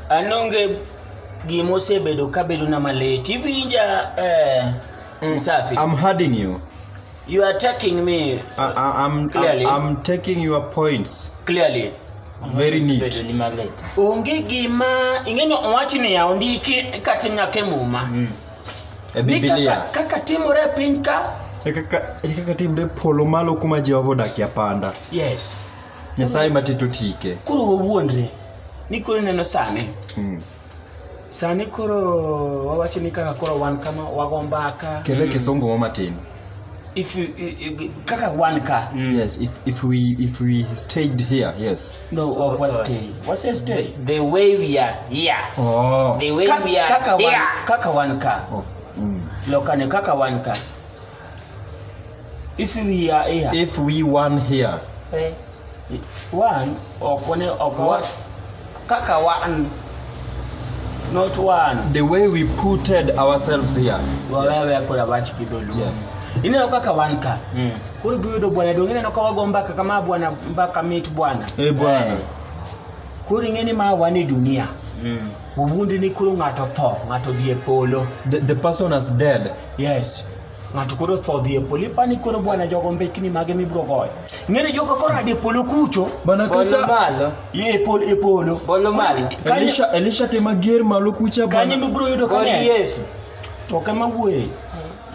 an onge gima osebedo kabedona malit iwinja eh, msafi I'm hurting you. you are attacking me I, I, I'm, Clearly. I'm, I'm taking your points clearly very Bedo neat. ni malit. onge gima ing'eni owachi niya ondiki katim nyaka e muma E Ni kaka- Biblia. kaka timore e piny ka E kaka e kaka timre polo malo kuma Jehova odakie panda. yes nyasaye matito tike koro wawuondre ni koro ineno sani Mm. sani koro wawacho ni kaka koro wan kama wago mbaka kele kisungu mo matin if you- i- i- kaka wan ka yes if, if we if we stayed here yes no wa- wa stay wase stay the way we are here oh the way Ka- we are kaka wan- here kaka wan ka oh. mm. lokane kaka wan ka If we are here, if we one here Eh, one or one or one, kaka one, not one. the way we putted ourselves here wawewe kula bachi kidolu Yeah. ineno kaka wan ka Mm. koro biyudo bwana donge ineno ka wago mbaka kama bwana mbaka mit bwana e bwana koro ing'eni ma wan e dunia Mm. wawuondre ni koro ng'ato tho ng'ato dhi e polo the, the person has dead yes ng'ato koro tho dhi e polo ipani koro bwana jogo mbekni mage mibiro goyo ng'eni jogo koro ade polo kucho Bana Bolo kacha malo. ye e polo e polo Bolo malo. Kanyo- Elisha Elisha te mager malo kucha kanyo bana. mibiro yudo ka Kod ne Yesu. to kama wuoye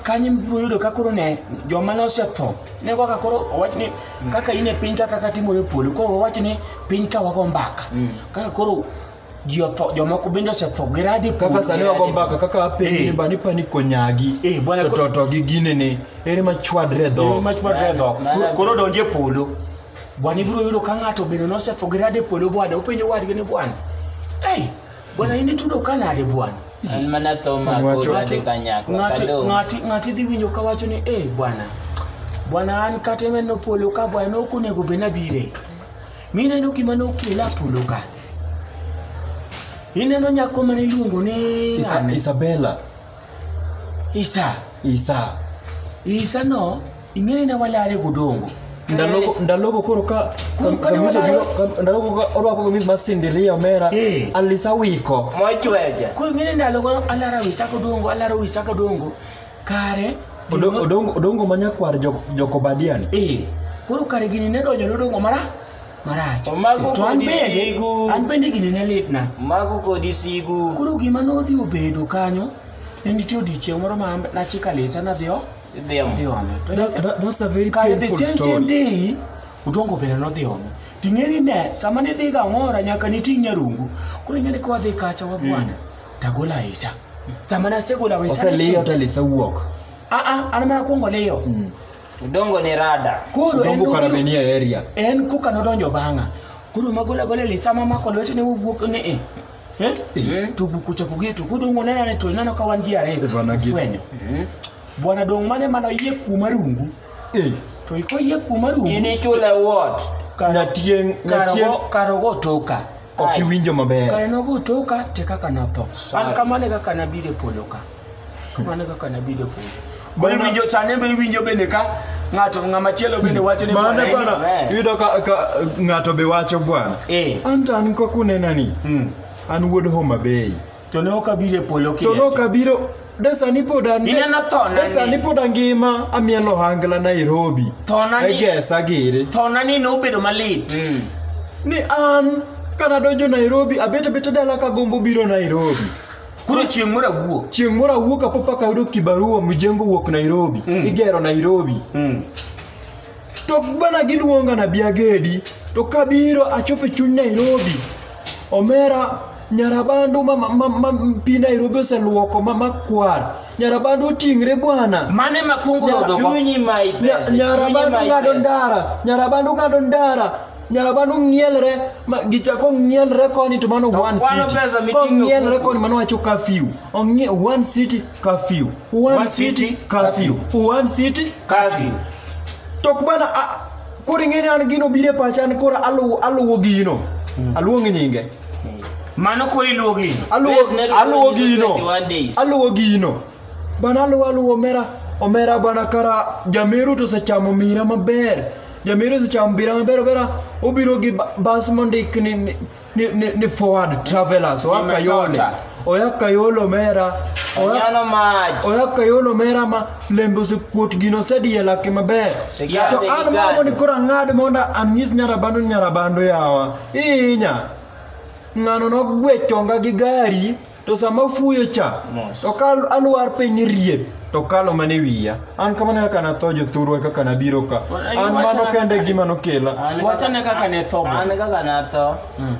kanyo mibiro yudo ka koro ne joma ne osetho ne kaka koro owach ni kaka in e piny ka kaka timore e polo koro owach ni piny ka wago mbaka kaka koro ji otho jomoko bende osetho gi radi kaka sani wago mbaka kaka apenji ni bani pani konyagi Eh, bwana, to ko- to to gi gine ni ere machwadre dho machwadre dho Nani- koro donje polo bwana ibiro yudo ka ng'ato bende nosetho gi radi e polo bwana openjo wadgi ni bwana ei bwana in itudo ka nade bwana an mana tho mako Wacho- rade kanyakla Ng'ati- kalo ng'ati ng'ati dhi winjo ka wacho ni e bwana bwana an kata menno polo ka bwana ok onego bed nabire mineno gima nokela polo ka Ineno nyako mane iluongo ni Isa, ng'ane? Isabella. Isa. Isa. Isa no ing'eyo ne walare godongo. Ndalogo ndalogo koro ka Koro ka ne kamiso wadaro- jiro- ka- ndalogo ka orwako kamis mar Cinderella Omera Eh. Alisa wiko. Mochweja. Koro ing'eyo ndalo go alara wisa godongo alara wisa godongo. Kare Odo- Odongo odongo ma nyakwar jo- jokobadiani. Eh. Koro kare gini ne donjo ne odongo mara marach Omago to an kodi bende sigu. an bende gini ne litna Mago kodi sigu. koro gima nodhi obedo kanyo ne nitie odiechieng' moro ma nachika lesa nadhi o- Idhi amo. dhi ome To That, that, that's a very kare the painful same same story. day udongo bende nodhi ome ting'eni ne sama nidhi ga ng'ora nyaka niting' nyarungu koro ing'eni ka wadhi kacha wabwana tagolo aisa sama nasegolo aisa Oseliyo to Lisa wuok. aa an mana kwongo liyo Udongo ni rada. Koro en Dongo nobiro- karamenia area. en koka nodonjo bang'a koro magola gola litsa mamako lwete ne wowuok ni e Eh? to buku chako geto kodongo nena ne to neno ka wan ji ariyo Eh, bwana gi- fwenyo bwana dong mane mana yie kuma rungu Eh, to iko yie kuma rungu Inichule what? Kar- Nyatieng, nyatieng. karogo karogo toka ok iwinjo maber kare nogo toka te kaka natho an kamano e kaka nabiro e polo ka kamano e kaka nabiro e polo Koro Bana- iwinjo sani be iwinjo bende ka ng'ato ng'ama chielo bende wacho ni mano bwana, bana amen. iyudo ka ka ng'ato be wacho bwana Eh. an to an kaka unenani Mm. an wuod homa bay To ne ok abiro e polo to kieti. nokabiro de sani pod an Ineno thona de ni. sani pod angima amiel ohangla nairobi Thona ni- egesa giri Thona ni nobedo malit. ni an kana donjo nairobi abet abeta dala kagombo biro nairobi Koro chieng' moro awuok. chieng' moro awuok apopaka ayudo kibarua mjengo wuok nairobi igero nairobi Mm. To bana giluonga na biagedi to kabiro achopo e chuny Nairobi. Omera nyarabandu ma, ma, ma, ma pi Nairobi oseluoko ma makwar. Nyarabandu oting're bwana. Mane makungu Nyara- yudo go. Chunyi ma Nya- ipesa. Chunyi Nyarabandu ma ng'ado ipesa. ndara, nyarabandu ng'ado ndara. Nyarabandu ng'ielre ma gichako ng'ielre koni to mano To one kwano city. pesa miting'o Kong'ielre kuku. koni mano wacho curfew. Ong'ie one city curfew one, One city, city, curfew one city Curfew. to bana a- koro ing'eni an gino biro e pacha an koro aluwo aluwo gino aluong nyinge Mano koro iluwo gino. aluwo Base metal aluwo is gino 21 days. aluwo gino bana aluwo aluwo omera omera bana kara jameru to osechamo mira maber jameru osechamo mira maber obera obiro gi ba- bas mondik ni ni- ni, ni, ni forward travelers oya kayole Nimesota. oya kayole omera oya Onyalo mach. oya kayole omera ma lembe osekuot gino osediye lake maber Sigande to an gi mago gande. ni koro ang'ad mondo anyis nyarabando ni nyarabando yawa ihinya ng'ano nogwe chonga gi gari to sama afuyo cha Mos. to ka alwar piny ni riep to kalo mana e wiya an kamano kaka natho jothurwa kaka nabiro ka Ai, an mano wachana- kende gima nokela An Wachane kaka ne tho An bwana. kaka natho. Mm.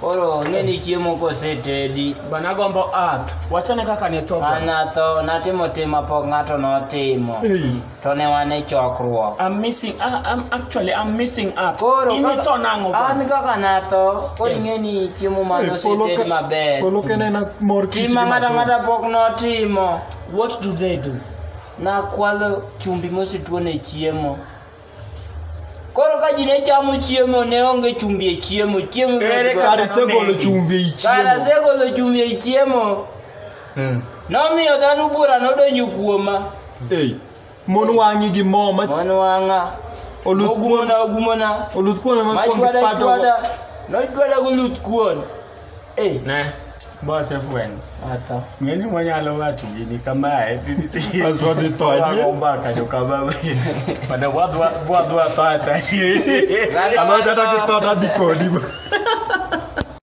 Koro ng'eni chiemo kosetedi. Bwana agombo earth. Wachane kaka ne tho An bwana. natho, natimo tim ma pok ng'ato notimo. Ei. to ne wan e chokruok I'm missing. I, I'm actually I'm missing out. koro Ini to nango kaka- an ba. kaka natho koro Yes. ing'e ni chiemo mane oseted maber Polo ka ne na mor kich. tima ng'ata ng'ata pok notimo What do they do? nakwalo chumbi mosetuo ne chiemo koro ka ji ne chamo chiemo ne onge chumbi e chiemo chiemo Ere kaka Kare se golo chumbi e chiemo. kara segolo chumbi e chiemo Mm. Nomiyo dhano bura nodonjo kuoma. Ei. Mon wang'i gi mo ma Mon wang'a. Oluth ogumona ogumona. Oluth kuon ma kuon chwada chwada. Nochwada goluth kuon. Ei. Ne. Boss F1. Ata. Ng'eni mwanyalo wacho gini kamae. As wadhi to adier. Wagomba kajo kamae. Pada wadwa wadwa tata. Amata tata tata dikodi.